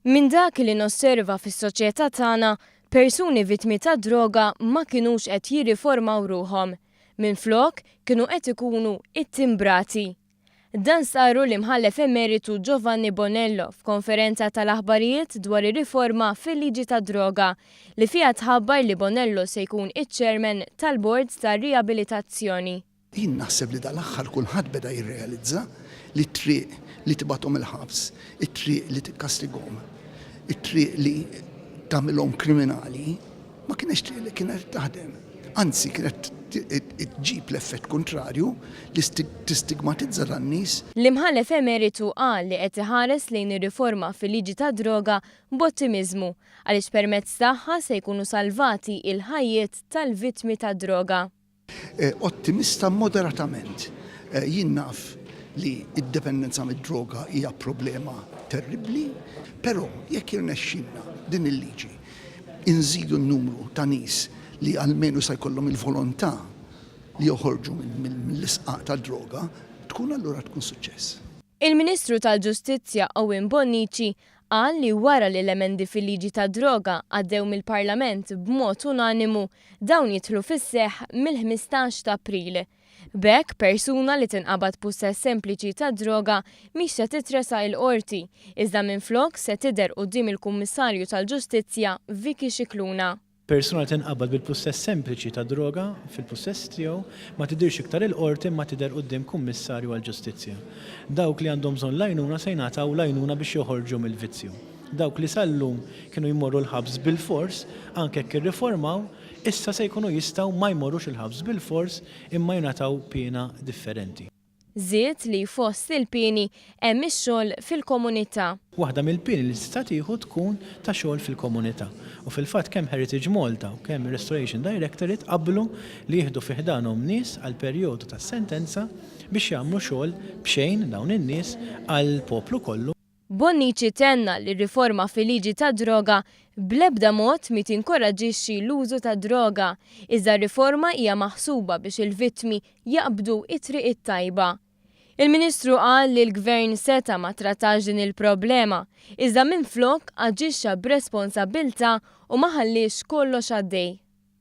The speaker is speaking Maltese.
Minn dak li nosserva fis-soċjetà tagħna, persuni vittmi tad-droga ma kinux qed jirriformaw ruħhom. Minflok, kienu qed ikunu ittimbrati. Dan stqarru l-Imħallef Emeritu Giovanni Bonello f'konferenza tal-aħbarijiet dwar ir-riforma fil-liġi tad-droga, li fiha tħabbar li Bonello se jkun iċ-Chairman tal-Bord tar-Riabilitazzjoni. Jien naħseb li dal-aħħar kulħadd beda jirrealizza li t-triq li tibgħathom il-ħabs, it-triq li tikkastigahom, it-triq li tagħmilhom kriminali ma kinetx triq li kienet qed taħdem. Anzi kienet iġġib l-effett kuntrarju li tistigmatizza lin-nies. L-Imħallef Emeritu qal li qed iħares lejn ir-riforma fil-liġi tad-droga b'ottimiżmu għaliex permezz tagħha se jkunu salvati il-ħajjiet tal-vittmi tad-droga. Ottimista moderatament. Jien naf li d-dipendenza mid-droga hija problema terribbli, però jekk jirnexxilna b'din il-liġi nżidu n-numru ta' nies li almenu se jkollhom il-volontà li joħorġu mill-isqaq tad-droga, tkun allura tkun suċċess. Il-Ministru tal-Ġustizzja Owen Bonnici qal li wara li l-emendi fil-liġi tad-droga għaddew mill-Parlament b'mod unanimu, dawn jidħlu fis-seħħ mill-ħmistax ta' April. B'hekk, persuna li tinqabad b'pussess sempliċi tad-droga mhix se titresaq il-Qorti, iżda minflok se tidher quddiem il-Kummissarju tal-Ġustizzja Vicky Scicluna. Persuna li tinqabad bil-pussess sempliċi ta' droga fil-pussess tiegħu ma tidhirx iktar il-Qorti imma tidher quddiem Kummissarju għall-Ġustizzja. Dawk li għandhom bżonn l-għajnuna se jingħataw l-għajnuna biex joħorġu mill-vizzju. Dawk li sal-lum kienu jmorru l-ħabs bilfors, anke jekk irriformaw, issa se jkunu jistgħu ma jmorrux il-ħabs bilfors imma jingħataw piena differenti. Żied li fost il-pieni hemm ix-xogħol fil-komunità. Waħda mill-pieni li tista' tieħu tkun ta' xogħol fil-komunità. U fil-fatt kemm Heritage Malta u kemm ir-Restoration Directorate qablu li jieħdu fi ħdanhom nies għall-perjodu tas-sentenza biex jagħmlu xogħol b'xejn dawn in-nies għall-poplu kollu. Bonnici tenna li r-riforma fil-liġi tad-droga bl-ebda mod mhi tinkoraġġixxi l-użu tad-droga, iżda r-riforma hija maħsuba biex il-vittmi jaqbdu t-triq it-tajba. Il-Ministru qal li l-Gvern seta' ma ttrattax din il-problema, iżda minflok aġixxa b'responsabbiltà u ma ħalliex kollox għaddej.